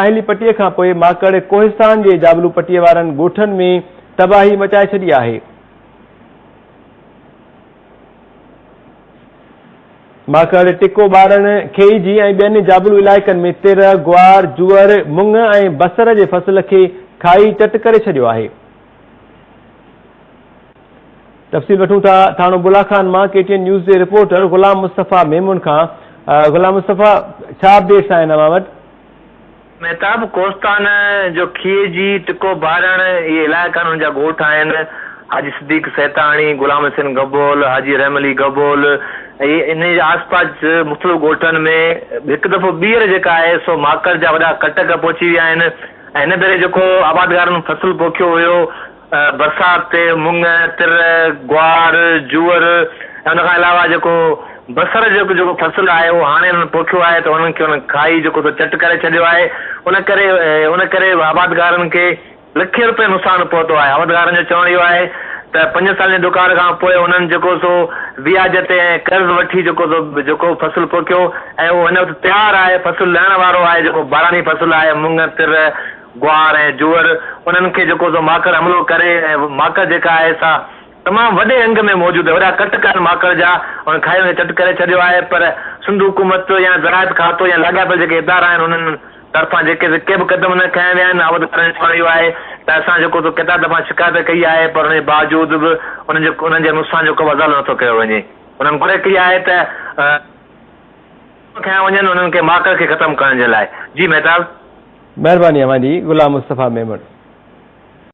ساحلي پٽي کان پوء ماڪڙ ڪوهستان جي جابلو پٽي وارن ڳوٺن ۾ تباهي مچائي ڇڏي آهي. ماڪڙ ٽڪو ٻارڻ، کيئجي ۽ ٻين جابلو علائقن ۾ تر، گوار، جوئر، مڱ ۽ بصر جي فصل کي کائي چٽ ڪري ڇڏيو آهي. تفصيل وٺون ٿا ٿاڻو بلا خان مان ڪي ٽي اين نيوز جي رپورٽر غلام مصطفيٰ ميمڻ کان غلام مصطفيٰ ڇا اپڊيٽس آهن اوهان وٽ؟ مهتاب ڪوستان جو کيء جي ٽڪو بارڻ اهي علائقا آهن ان جا ڳوٺ آهن حاجي صديق سهتاڻي، غلام حسين گبول، حاجي رحم علي گبول ۽ انهي جي آس پاس مختلف ڳوٺن ۾ هڪ دفعو ٻيهر جيڪا آهي سو ماڪڙ جا وڏا ڪٽڪ پهچي ويا آهن ۽ هن ڀيري جيڪو آبادگارن فصل پوکيو هيو برسات تي مڱ، تر، گوار، جوئر ۽ ان کان علاوه جيڪو بصر جو جيڪو فصل آهي اهو هاڻي انهن پوکيو آهي ته انهن کي انهن کائي جيڪو سو چٽ ڪري ڇڏيو آهي ان ڪري ان ڪري آبادگارن کي لکين روپين نقصان پهتو آهي آبادگارن جو چوڻ اهو آهي ته پنجن سالن جي ڏڪار کان پوء انهن جيڪو سو وياج تي ۽ قرض وٺي جيڪو سو جيڪو فصل پوکيو ۽ اهو هن وقت تيار آهي فصل لهڻ وارو آهي جيڪو باراني فصل آهي مڱ، تر، گوار ۽ جوئر انهن کي جيڪو سو ماڪڙ حملو ڪري ۽ ماڪڙ جيڪا آهي سا تمام وڏي انگ ۾ موجود آهي وڏا ڪٽ ڪن ماڪڙ جا ان کائي ان کي چٽ ڪري ڇڏيو آهي پر سنڌ حڪومت يا زراعت کاتو يا لاڳاپيل جيڪي ادارا آهن انهن طرفان جيڪي سو ڪي به قدم نه کنيا ويا آهن عهديدارن چيو رهيو آهي ته اسان جيڪو سو ڪيترا دفعا شڪايت ڪئي آهي پر انهن جي باوجود به انهن جي انهن جي نقصان جو ڪو به ازالو نٿو ڪيو وڃي انهن گهرج ڪئي آهي ته کنيا وڃن انهن کي ماڪر کي ختم ڪرڻ جي لاء. جي مهتاب. مهرباني اوهان جي غلام مصطفيٰ ميمڻ.